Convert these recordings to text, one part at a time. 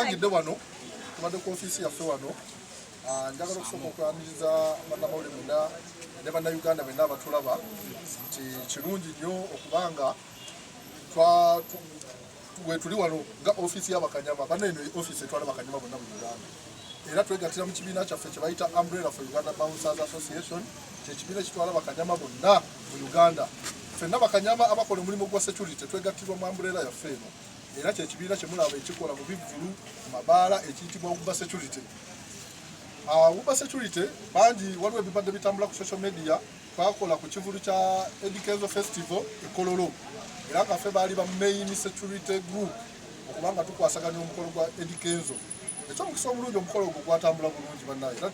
Angidde wano tubadde ku ofiisi yaffe wano ah, njagala okusooka okwaniriza bannamawulire mwenna ne bannayuganda benna abatulaba nti kirungi nnyo okubanga wetuli wano nga office ya bakanyama bana eno office etwala bakanyama bonna mu Uganda era twegatira mu kibiina kyaffe kye bayita Umbrella for Uganda Bouncers Association kyekibiina ekitwala bakanyama bonna mu Uganda fenna bakanyama abakola omulimu gwa security twegattirwa mu Umbrella yaffe eno era kyekibiina kyemulaba ekikola mu bivvulu mu mabaala ekiyitibwa Uber Security uh, Uber Security bangi waliwo ebibadde bitambula ku social media Twakola ku kivulu kya Eddy Kenzo Festival e Kololo era nga ffe baali ba main security group okuba nga tukwasaganya omukolo gwa Eddy Kenzo. Eky'omukisa omulungi omukolo ogwo gwatambula bulungi bannange era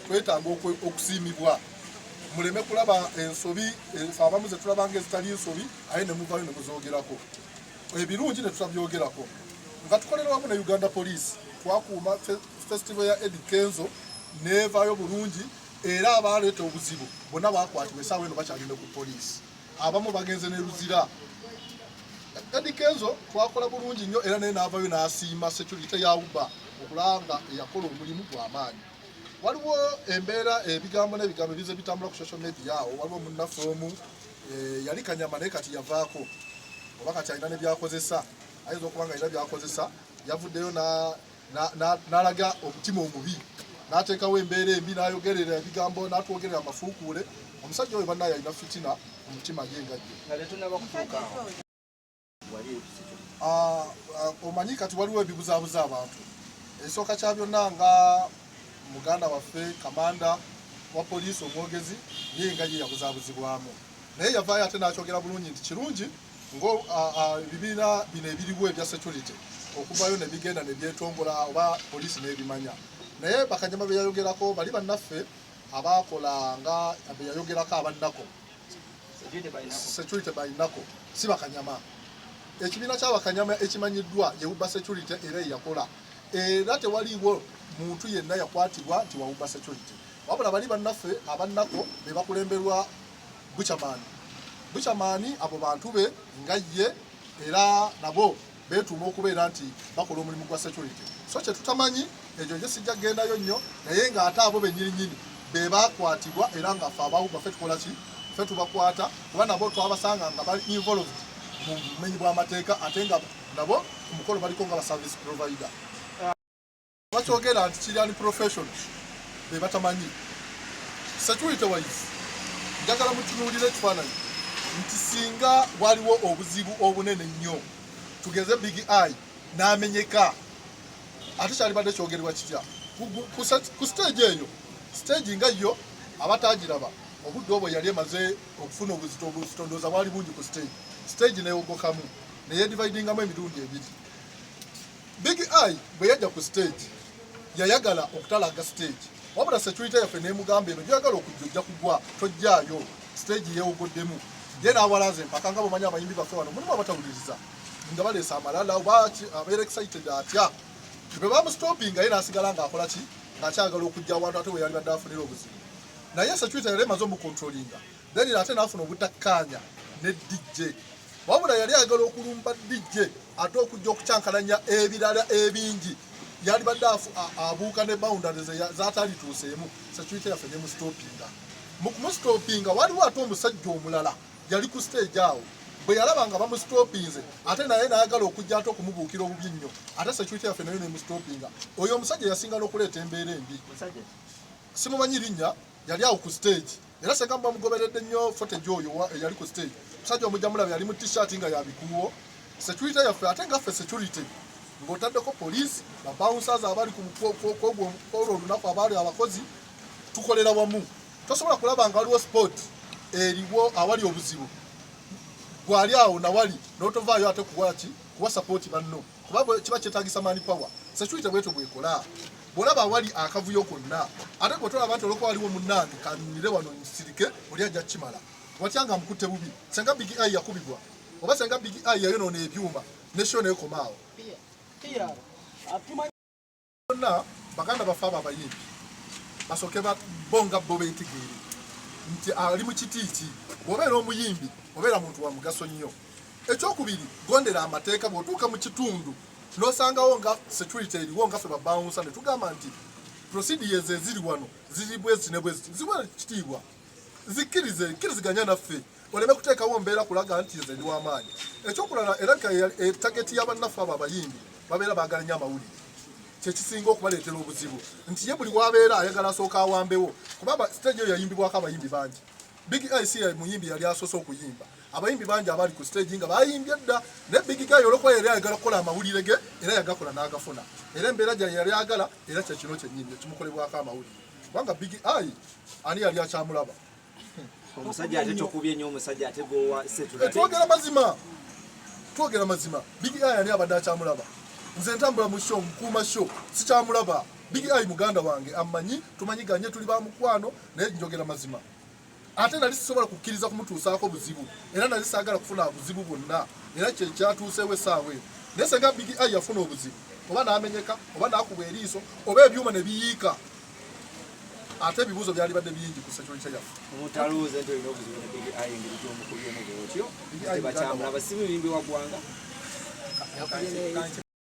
twetaaga okusiimibwa muleme kulaba ensobi enso abamu ze tulabanga ezitali nsobi aye ne muvayo ne muzoogerako ebirungi ne tutabyogerako nga tukolera wamu ne Uganda Police twakuuma festival ya Eddy Kenzo neevaayo bulungi era abaaleeta obuzibu bonna bakwatibwa esaawa eno bakyagenda ku poliisi abamu bagenze ne luzira edi kenzo twakola bulungi nnyo era naye naavayo n'asiima security ya uba okulanga eyakola omulimu gwamaanyi waliwo embeera ebigambo n'ebigambo ebize bitambula ku social media awo waliwo munnaffe omu eh, yali kanyama naye kati yavaako oba kati alina ne byakozesa ayinza okuba nga alina byakozesa yavuddeyo n'alaga omutima omubi n'ateekawo embeera embi n'ayogerera ebigambo n'atwogerera amafuukuule omusajja oyo bannaye alina fitina mu mutima gye nga gye ah, ah, omanyi kati waliwo ebibuzaabuza abantu ekisooka kya byonna nga muganda waffe kamanda wa poliisi omwogezi naye nga ye yabuzabuzibwamu naye yavaayo ate n'akyogera bulungi nti kirungi ngaebibiina bino ebiriwo ebya security okuvayo ne bigenda ne byetongola oba poliisi n'ebimanya naye bakanyama be yayogerako bali bannaffe abaakola nga be yayogerako abannako security balinako si bakanyama ekibiina kyabakanyama ekimanyiddwa yewuba security era eyakola era tewaliwo muntu yenna yakwatibwa nti wawuba security wabula bali bannaffe abannako be bakulemberwa bucamaani bucamaani abo bantu be nga ye era nabo beetuuma okubeera nti bakola omulimu gwa security so kye tutamanyi ekyo nje sijja kugendayo nnyo naye ng'ate abo bennyininyini be baakwatibwa era nga fe abawu baffe tukola ki fe tubakwata kuba nabo twabasanga nga bali involved mu bumenyi bw'amateeka ate nga nabo ku mukolo baliko nga ba service provider bakyogera nti kiri ali profession be batamanyi security wise njagala mutunuulira ekifaananyi nti singa waliwo obuzibu obunene nnyo tugeze big eye n'amenyeka ate kyalibadde kyogerwa kitya ku stage eyo stage nga yo abatagiraba obudde obwo yali emaze okufuna obuzito obuzito ndooza bwali bungi ku stage stage neyogokamu neyedividingamu emirundi ebiri Big Eye bwe yajja ku stage yayagala okutalaaga stage wabula security yaffe n'emugamba eno gy'oyagala okujja ojja kugwa tojjaayo stage yeewogoddemu ye n'awalaza empaka nga bwemanyi abayimbi baffe wano mulimu abatawuliriza nga baleesa amalala oba abeera excited atya bwe bamustoppinga ye n'asigala ng'akola ki ng'akyagala okujja awantu ate we yali badde afunira obuzibu naye security yali emaze omukontrolinga Daniel ate n'afuna obutakkaanya ne DJ wabula yali ayagala okulumba DJ ate okujja okucankalanya ebirala ebingi yali badde abuuka ne boundaries zatalituuseemu security yaffe ne mustopinga mu kumustopinga waliwo ate omusajja omulala yali ku stage awo bwe yalaba nga bamusitopinze ate naye nayagala okujja ate okumubuukira obubi nnyo ate security yaffe nayo nemusitopinga oyo omusajja yasinga n'okuleeta embeera embi simumanyi linnya yali awo ku stage era senga muba mugoberedde nnyo footage oyo eyali ku stage musajja omujja mulaba yali mu t-shirt nga yabikuuwo security yaffe ate nga ffe security ng'otaddeko poliisi babouncers abali kwolwo olunaku abaali abakozi tukolera wamu tosobola kulaba nga waliwo sport eriwo awali obuzibu gwali awo nawali notovaayo ate kuwaki kuwa sapooti banno kuba kiba kyetagisa mani power security bwetyo bwekola bwolaba awali akavuyo konna ate gwetolaba nti olwokuba waliwo munnange kanunire wano nsirike oli ajja kukimala watya nga mukutte bubi senga big i yakubibwa oba senga big i yayonoona ebyuma neshona ekomaawo Bonna baganda baffe abo abayimbi basooke bo nga bo beetegeere nti ali mu kiti ki. Bw'obeera omuyimbi obeera muntu wa mugaso nnyo. Ekyokubiri, gondera amateeka. Bw'otuuka mu kitundu n'osangawo nga security eriwo nga ffe babawunsa ne tugamba nti procedures eziri wano ziri bweziti ne bweziti ziwa kitiibwa. zikkirize nkiriziganya naffe oleme kuteekawo mbeera kulaga nti nze ndi wamaanyi ekyokulala era eh, tageti yabannaffe abo abayimbi babeera baagala nyo amawulire kyekisinga okubaleetera obuzibu nti ye buli wabeera ayagala asooka awambewo kuba stage eyo yayimbibwako abayimbi bangi big ic muyimbi yali asoose okuyimba abayimbi bangi abaali ku stage nga bayimbye dda naye big guy olwokuba yali ayagala okukola amawulire ge era yagakola n'agafuna era embeera gya yali agala era kyekino kyenyini ekimukolebwako amawulire kubanga big eye ani yali akyamulaba omusajja ate tokubye nyo omusajja ate gowa setu eh, twogera mazima twogera mazima big eye ani abadde akyamulaba nze ntambula mu show nkuuma show sikyamulaba big eye muganda wange amanyi tumanyiganye tuli ba mukwano naye njogera mazima ate nali sisobola kukkiriza kumutuusaako buzibu era nali saagala kufuna buzibu bwonna era kye kyatuuseewo essaawa eno naye senga bigi ai yafuna obuzibu oba n'amenyeka oba n'akubwa eriiso oba ebyuma ne biyiika ate ebibuuzo byali badde bingi ku security yaffe omutalooza nti olina obuzibu ne bigi ai engeri gy'omukubyemu bwotyo tebakyamulaba si muyimbi wa ggwanga